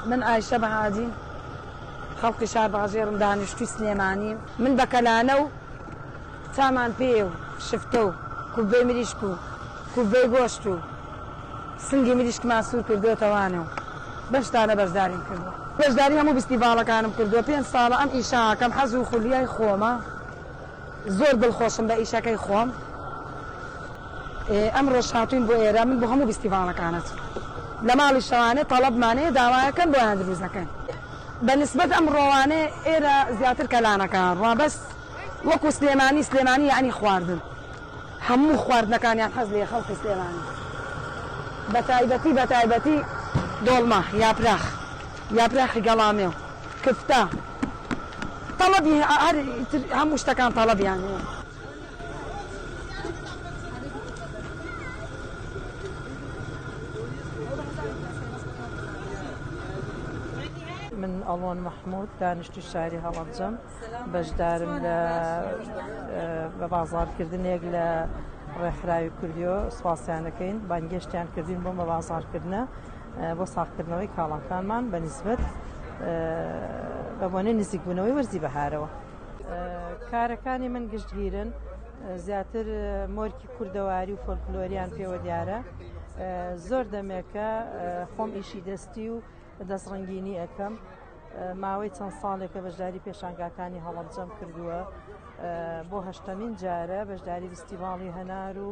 من ئایشە بەهادی خەڵکی شار بەغەژێڕم دانیشتوی سلێمانیم من بە کەلانە و سامان پێیە و شفتە و کوببەی مریشک و کوببەی گۆشت و سنگی مریشکمان سوور کردۆتەوانە و بەم شتانە بەشداریم کردووە. بەشداری هەموو ڤیستیڤاڵەکانم کردووە. پێنج ساڵە ئەم ئیشە ئەکەم، حەز و خولیای خۆمە. زۆر دڵخۆشم بە ئیشەکەی خۆم. ئەمڕۆش هاتووین بۆ ئێرە. من بۆ هەموو ڤیستیڤاڵەکان ئەچم. لە ماڵی شەوانێ تەڵەبمان هەیە، داوایەکەن بۆیان دروست دەکەین. بە نیسبەت ئەمڕۆوانێ ئێرە زیاتر کەلانەکە هەن، ڕابەس. وەکو سلێمانی سلێمانی یانی خواردن هەموو خواردنەکانیان حەز لێ خەڵکی سلێمانی بەتایبەتی بەتایبەتی دۆڵمە یاپراخ یاپراخی گەڵامێ و کفتە تەڵەبی هەر هەموو شتەکان تەڵەبیان هەیە من ئەڵۆن مەحموود دانیشتی شاری هەڵەبجەم بەشدارم لە بە بازاڕکردنێک لە ڕێکخراوی کوردیۆ سوپاسیانەکەین بانگێشتیان کردین بۆ مە بازاڕکردە بۆ ساقکردنەوەی کاڵاکانمان بە نسبت بە بۆنەی نزیکبوونەوەی وەرزی بەهارەوە کارەکانی من گشتگیرن زیاتر مۆرکی کوردەواری و فۆلکلۆریان پێوە دیارە زۆر دەمێکە خۆم ئیشی دەستی و دەستڕنگینی ئەەکەم ماوەی چەند ساڵێکە بەشداری پێشانگاکانی هەڵەبجەم کردووە بۆ هەشتەمین جارە بەشداری فستیڤاڵی هەنار و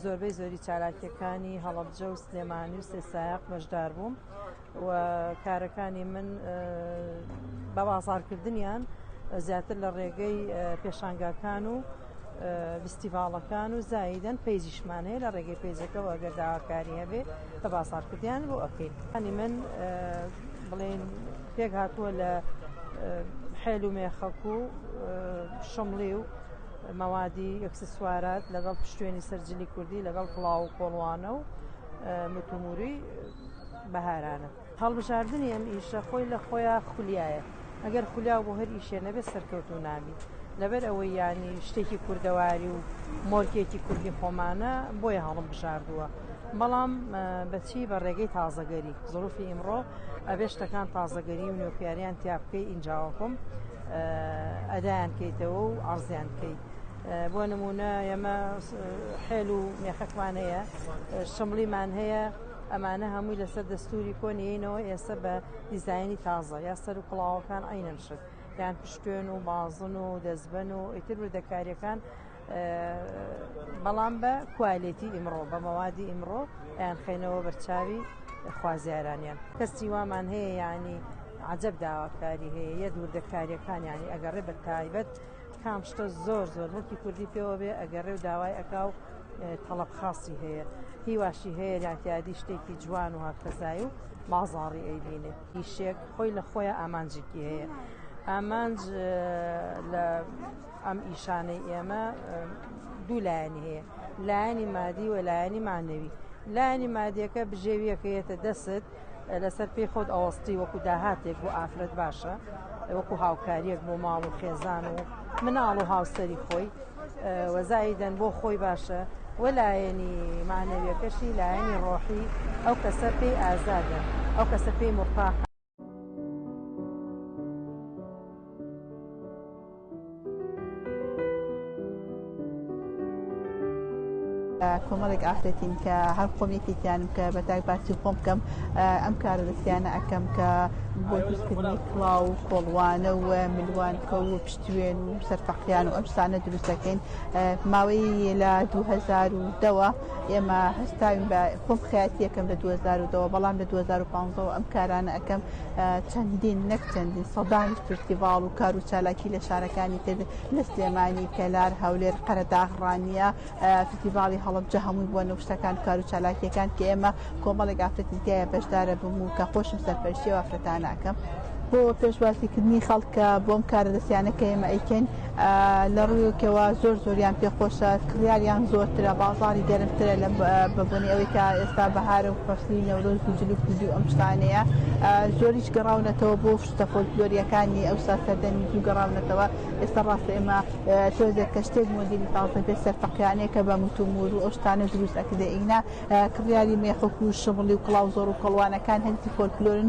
زۆربەی زۆری چالاکیەکانی هەڵەبجە و سلێمانی و سێسایق بەشدار بووم و کارەکانی من بە بازارکردنیان زیاتر لە ڕێگەی پێشانگاکان و ڤیستیڤاڵەکان و زایدەن پەیجیشمان هەیە لە ڕێگەی پەیجەکەەوە گەر داواکاری هەبێ بە بازاڕکردیان بۆ ئەکەین هەنی من بڵێن پێک هاتووە لە حێل و مێخەک و شمڵی و مەوادی ئەکسسوارات لەگەڵ پشتێنی سەرجلی کوردی لەگەڵ پڵاو و کۆڵوانە و متوموری بەهارانە هەڵبژاردنی ئەم ئیشە خۆی لە خۆیا خولیایە ئەگەر خولیاو بۆ هەر ئیشێ نەبێت سەرکەوتوو نابی لەبەر ئەوەی ینی شتێکی کوردەواری و مۆرکێکی کوردی خۆمانە بۆیە هەڵم بژاردووە بەڵام بەچی بە ڕێگەی تازەگەری زروفی ئیمڕۆ ئەبێ شتەکان تازەگەری و نوێپیاریان تیاپکەی ئینجاوەکم ئەدایان کەیتەوە و ئازیان کەیت بۆ نمونە ئێمە حێل و مێخەکمان هەیە شمڵیمان هەیە ئەمانە هەمووی لەسەر دەستوری کۆن یینەوە ئێستا بە دیزایانی تازە یا سەر و کڵاوەکان ئەینەن شت یان پشتێن و بازن و دەستبەن و ئیتر وردەکاریەکان بەڵام بە کوالێتی ئیمڕۆ بە مەوادی ئیمڕۆ یان خەینەوە بەرچاوی خوازیارانیان کەسی وامان هەیە ینی عجب داواکاری هەیە یە دووردەکاریەکان ینی ئەگەڕێ بە تایبەت کام شتە زۆر زۆر موڵکی کوردی پێوە بێ ئەگەڕێ و داوای ئەکا و تەڵەب خاصی هەیە هیواشی هەیە لاتیادی شتێکی جوان و هاکتەزای و بازاڕی ئەیبینێ ئیشێک خۆی لە خۆیان ئامانجێکی هەیە ئامانج لە ئەم ئیشانەی ئێمە دوو لایەنی هەیە لایەنی مادی و لایەنی مانەوی لایەنی مادیەکە بژێویەکەیەتە دەست لەسەر پێی خۆت ئەوەستی وەکو داهاتێک بۆ ئافرەت باشە وەکو هاوکاریەک بۆ ماڵ و خێزان و مناڵ و هاوسەری خۆی وەزایدەن بۆ خۆی باشە وە لایەنی مانەویەکەشی لایەنی ڕۆحی ئەو کەسە پێی ئازادە ئەو کەسە پێی مڕتاحە کۆمەڵێک ئافرەتین کە هەر خۆم یەکێکیانم کە بە تاک باسی خۆم بکەم ئەم کارە دەستیانە ئەەکەم کە بۆ دروستکردنی کڵاو و کۆڵوانە و ملوان کە و پشتێن و سەرفەقیان و ئەمسانە دروستەکەین ماوەی لە 2010ەوە ئێمە هەستاوین بە خۆم خاتیەکەم لە 2010ەوە بەڵام لە 2015 ئەم کارانە ئەەکەم چەندین نەک چەندین سەدان فستیڤاڵ و کار و چالاکی لە شارەکانی تر لە سلێمانی کەلار هەولێر قەرەداغ ڕانیە فستیڤاڵی هەڵبجە هەمووی بۆ نەوشتەکان کار و چالاکیەکان کە ئێمە کۆمەڵێک ئافرەتی تایە بەشدارە بم و کە خۆشم سەرپەرشی وافرەتانەکەم. بۆ پێشوازیکردنی خەڵکە بۆم کارە دەستیانەکە ئێمە ئەیکەین لەڕویەکەوە زۆر زۆریان پێ خۆشە کڕیاریان زۆرترە بازاری گەرمترە لە بەبوونی ئەوەی کە ئێستا بەهارە و فەسلی نەورۆز و جلو کوردی ئەم شتانەیە زۆریش گەڕاونەتەوە بۆ شتە فۆلکلۆریەکانی ئەوسا سەردەمی زوو گەڕاونەتەوە ئێستا ڕاستە ئێمە تۆزێک کە شتێک مۆدیلی تازە پێ سەرفەقیانەیە کە بە متومور و ئەو شتانە دروست ئەکرێ ئینا کڕیاری مێخک و شمڵی و کڵاو زۆر و کەڵوانەکان هەرسی فۆلکلۆرن